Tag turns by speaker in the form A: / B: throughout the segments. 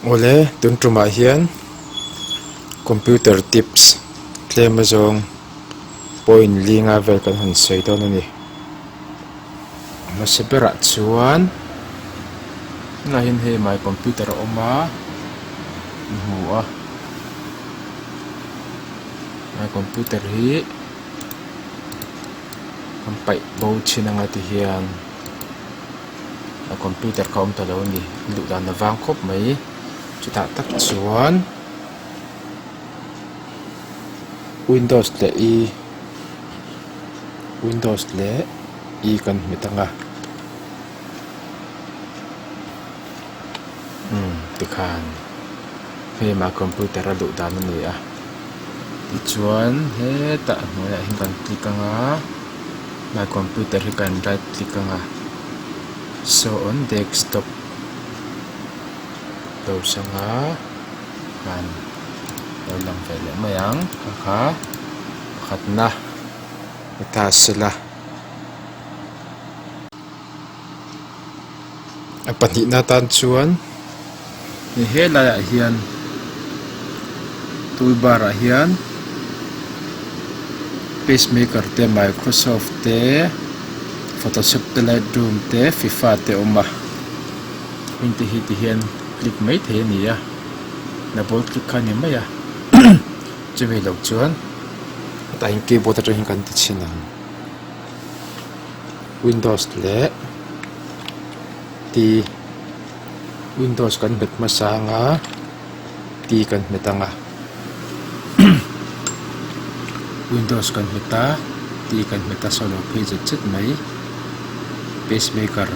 A: awle tun tumah hian computer tips tlem azawng pawh inlinga vel kan han sawi dawn a ni. Hmasa berah chuan tunlaiin hei my computer a awm a ni hmu a my computer hi kan paih bo thin anga tihian my computer kha awm ta lo a ni luh dan avang khawp mai chutah tak chuan windows leh i-- windows leh e kan hmet ang a umm tikhan hei mah computer a luh dan a ni a tichuan hetah hnuaiah hi kan click ang a mah computer hi kan right click ang a show on desktop lo sang a han lo lang ve leh mai ang kha kha. Pakhatna heta sela a pahnihna atan chuan hei helaiah hian tool bar ah hian pacemaker te microsoft te photoshop te lightroom te fifa te a awm a heng te hi tihian click maithei a ni a double click kha a ni mai a. Chumi lo chuan hetaihin keyboard atangin kan ti chhin ang, Windows leh T, Windows kan hmet hmasa anga T kan hmet ang a, Windows kan hmet a T kan hmet a, solo phei zet zet mai, pacemaker,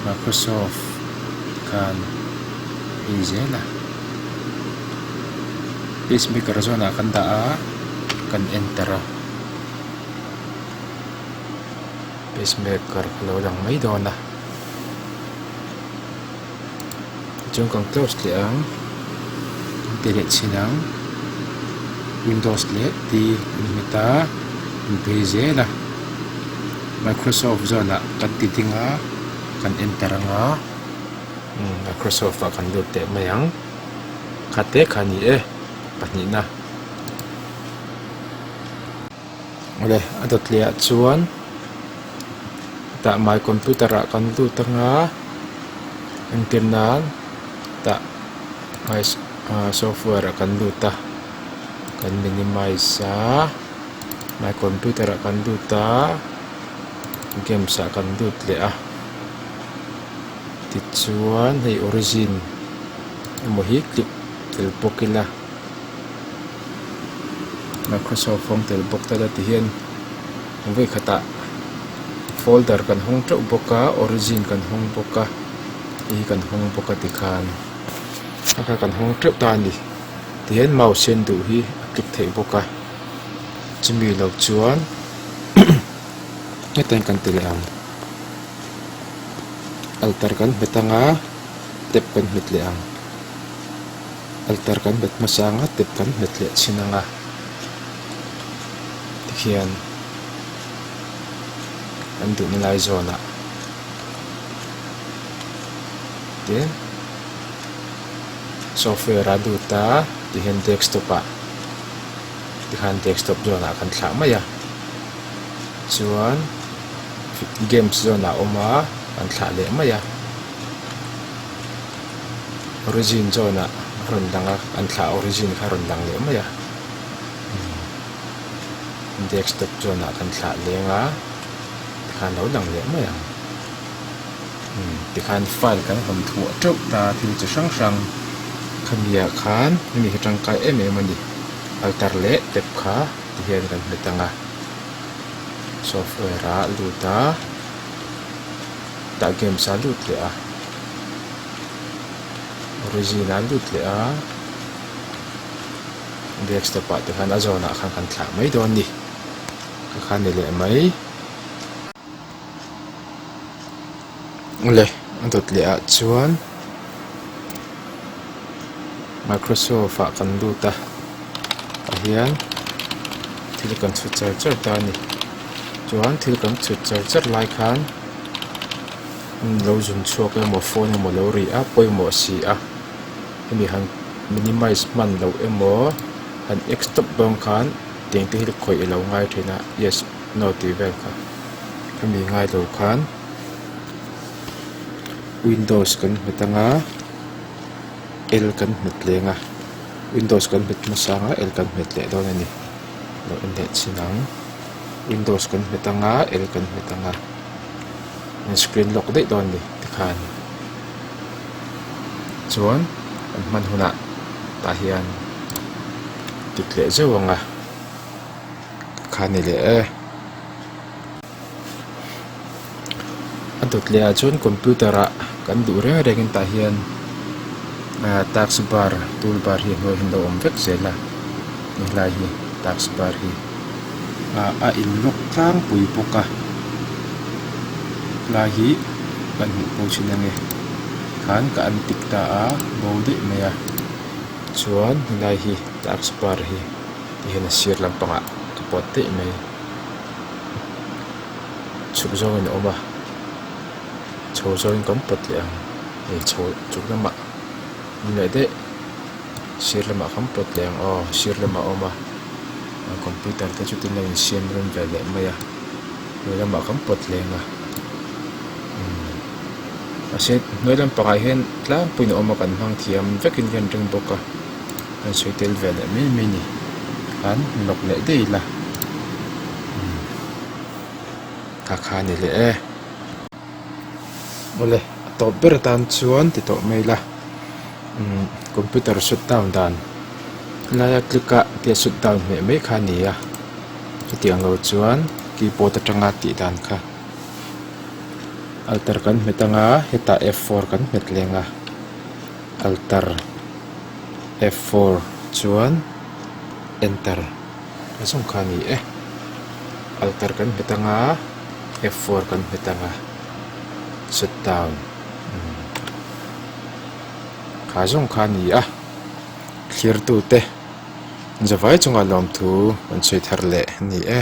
A: Microsoft khan. hei zel a pace maker zawnah kan dah a kan enter a pace maker a lo lang mai dawn a tichuan kan close leh ang kan ti leh chhin ang windows leh t kan hmit a kan phei zel a microsoft zawnah kan ti ding a kan enter ang a. Microsoft ah kan lut teh mai ang khat te kha ni e pahnih na awle a dawt leh ah chuan tah my computer ah kan lut anga engtir nan tah my software ah kan lut a kan minimize a my computer ah kan lut a games ah kan lut leh a. tichuan hei origin emaw hi click tel pawh kil a microsoft rawng tel bawk tala ti hian vawi khatah folder kan hawng teuh bawk a origin kan hawng bawk a te hi kan hawng bawk a tikhan a kha kan hawng teuh ta a ni tihian mouse hian duh hi a click theih bawk a chumi lo chuan hetlai kan tel ang. altar kan hmet anga tap kan hmet leh ang altar kan hmet hmasa anga tap kan hmet leh chhin anga tikhian an duhna lai zawnah tin software a lut a tihian desktop ah tikhan desktop zawnah kan thlah mai a chuan-- games zone ah a awm a an thlah leh mai a origin zone ah a rawn lang a an thlah origin kha a rawn lang leh mai a desktop zone ah kan thlah leng a tikha an lo lang leh mai ang tikhan file kan hawn thuah teuh ta thil chi hrang hrang khami ah khan hemi hi tangkai em em a ni alter leh tep kha ti hian kan hmu tang a. software ah lut a tah games ah lut leh a origin ah lut leh a desktop ah te khan a zawnah khan kan thlah mai dawn ni ka kha ni leh mai. le a dawt leh ah chuan microsoft ah kan lut a tah hian thil kan chhut char char ta a ni chuan thil kan chhut char char lai khan hemi lo zum chhuak emaw phone emaw lo rih a pawimawh si a hemi han minimize hman loh emaw han stop dawn khan tengte hi khawih alo ngai thin a yes. No tih vel kha a mi ngai lo khan windows kan nghet anga l kan nghet leng a windows kan nghet hmasa anga l kan nghet leh dawn a ni lo inleh chhin ang windows kan nghet anga l kan nghet anga min screen lock daih dawn a ni tikhan chuan kan hman hunah tah hian dik leh zeuh ang a. kha ni leh e a dawt leh ah chuan computer ah kan duh reng reng in tah hian ah task bar tool bar hi a hnuai ah hian a lo awm vek zel a ni hlai hi task bar hi ah a in lock tlang pui bawk a tlai hi ka hmuh pawh thin a ni khn ka en tik ta a bo daih mai a chuan helai hi task bar hi-- tih hian a sir lampangah ka puat daih mai chhuk zawngin a awm a chho zawngin kan pawt leh ang hei chho chhuk lamah awm leh daih sir lamah kan pawt leh ang aw sir lamah a awm a a computer te chu tin a insiam run ve leh mai a hnuai lamah kan pawt leh ang a umm mahse hnuai lampangah hian tlangpuiin a awm a kan hmang thiam vekin ka rawn ring bawk a. Hei sawi tel ve leh mai mai ni khan nawk leh daih ila umm ka kha ni leh e awle a tawp ber atan chuan ti tawh mai ila umm computer shut down dan helai a click a tia shut down hmeh mai kha nia chutiang ang lo chuan keyboard atanga tih dan kha alter kan hmet anga hetah f four kan hmet leng a. Altar F four chuan Enter a zawng kha a ni e. Altar kan hmet anga F four kan hmet anga Shutdown umm kha zawng kha a ni a. Thlertu te zavai chunga lawmthu kan sawi thar leh a ni e.